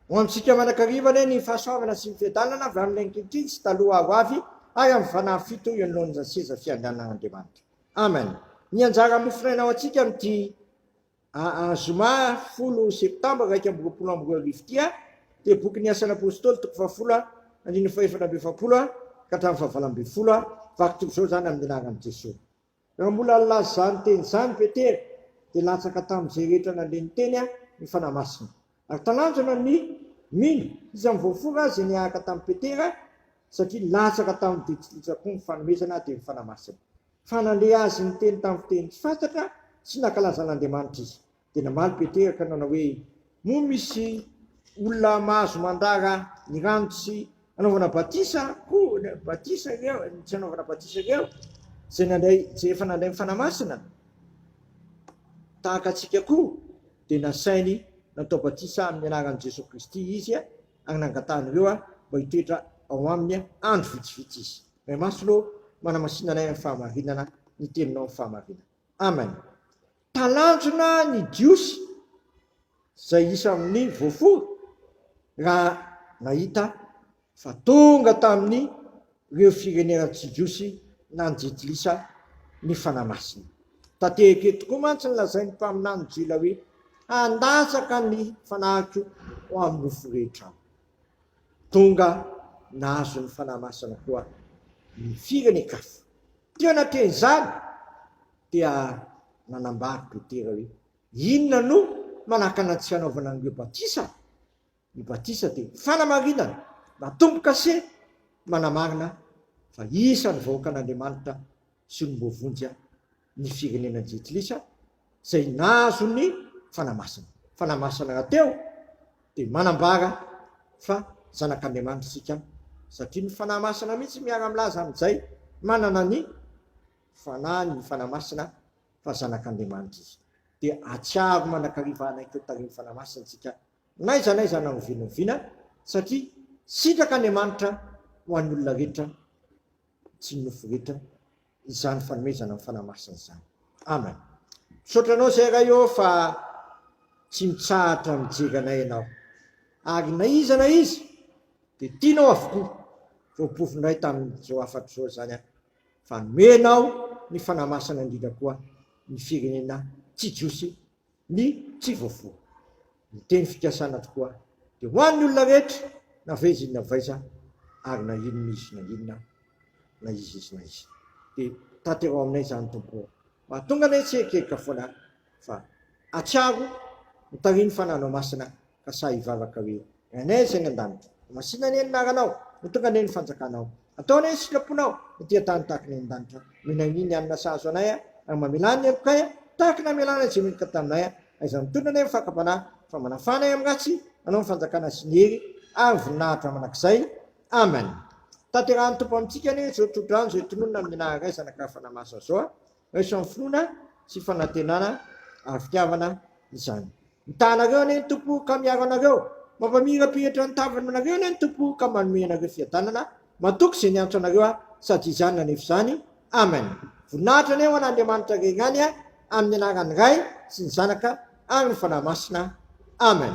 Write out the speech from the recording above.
Ho amintsika manakariva anie ny fahasoavana sy ny fiadanana avy amin'ilay ankehitriny sy taloha ho avy ary amin'ny fanahy fito eo anoloan'izany seza fiandrianan'Andriamanitra. Amen. Ny anjara mofonaina ho antsika amin'ity zoma folo septambra iraika amby roapolo amby roa arivo ity dia boky ny asan'ny apôstôly toko fahafolo andininy fahefatra amby efapolo ka hatramin'ny fahavalo ambin'ny folo. Vakiko izao izany amin'ny anaran'i Jesoa. Raha mbola nilaza izany teny izany Petera, dia latsaka tamin'izay rehetra nandre ny teny ny Fanahy Masina, ary talanjona ny mino, iza ny voafora aza dia niaraka tamin'i Petera, satria latsaka tamin'ny ditriditra koa ny fanomezana dia ny Fanahy Masina. Fa nandre azy niteny tamin'ny fiteny tsy fantatra sy nankalaza an'Andriamanitra izy. Dia namaly Petera ka nanao hoe, Moa misy olona mahazo mandrara ny rano tsy anaovana batisa koa, batisa ireo, tsy anaovana batisa ireo, izay nandray, izay efa nandray ny Fanahy Masina, tahaka antsika koa? Dia nasainy natao batisa amin'ny anaran'i Jesoa Kristy izy, ary nangatahany ireo mba hitoetra ao aminy andro vitsivitsy izy. Ray Masina ô, manamasina anay amin'ny fahamarinana ny Teninao amin'ny fahamarinana. aminy. Talanjona ny Jiosy izay isa amin'ny voafora raha nahita fa tonga tamin' ireo firenena tsy jiosy nanjitilisa ny Fanahy Masina. Tanteraka eto koa mantsy ny lazain'ny mpaminany Gila hoe, Handatsaka ny fanahiko ho amin'ny nofo rehetra aho. Tonga nahazo ny Fanahy Masina koa ny firenen-kafa. Teo anatin'izany dia nanambara Petera hoe, Inona no manakana antsika hanaovana an'ireo batisa? Ny batisa dia fanamarinana na tombo-kase manamarina fa isan'ny vahoakan'Andriamanitra sy olom-boavonjy ny firenena Jentilisa, izay nahazo ny Fanahy Masina. Fanahy Masina rahateo dia manambara fa zanak'Andriamanitra isika satria ny Fanahy Masina mihitsy miara-milaza amin'izay manana ny Fanahiny ny Fanahy Masina fa zanak'Andriamanitra izy. Dia atsiaro mandrakariva hanaiky ho tarihin'ny Fanahy Masina isika n'aiza n'aiza na oviana oviana satria sitraky Andriamanitra ho an'ny olona rehetra tsy ny nofo rehetra izany fanomezana ny Fanahy Masina izany. Amen. Misaotra anao zay Ray ô fa tsy mitsahatra mijery anay ianao. Ary na iza na iza dia tianao avokoa. Voapovo indray tamin'izao hafatra izao izany aho fa nomenao ny Fanahy Masina indrindra koa ny firenena tsy jiosy ny tsy voafoha. Ny teny fikasana tokoa dia ho an'ny olona rehetra na vaiza izy na vaiza ary na inona izy na inona na iza izy na iza. Dia tanteraho aminay izany Tompo ô! Mahatonga anay hitsiririka foana fa hatsiaro ny tarihin'ny Fanahinao Masina ka sahy hivavaka hoe Renay izay any an-danitra. Ho masina anie ny anaranao. Ho tonga anie ny fanjakanao. Atao anie ny sitraponao. Ny tia tany tahaka ny any an-danitra. Minainiany ny alina sahazo anay a. Ary mamelany ny helokay a. Tahaka ny namelana izay meloka taminay a. Aiza no mitondra anie ny fakam-panahy. Fa manafana ay amin'ny ratsy. Anao ny fanjakana sy ny hery ary ny voninahitra mandrakizay. Amen. Tanterahan'ny Tompo amintsika anie izao tsodrano izay tononina amin'ny naha raizana ka fanahy masina izao a. Raiso amin'ny finoana sy fanantenana ary fitiavana izany. Mitaha anareo anie ny Tompo ka miaro anareo, mampamirapiratra ny tavany aminareo anie ny Tompo ka manome anareo fiadanana, matoky izay niantso anareo aho sady izany nanefa izany. Amen. Voninahitra anie ho an'Andriamanitra Irery ihany amin'ny anaran'ny Ray sy ny Zanaka ary ny Fanahy Masina. Amen.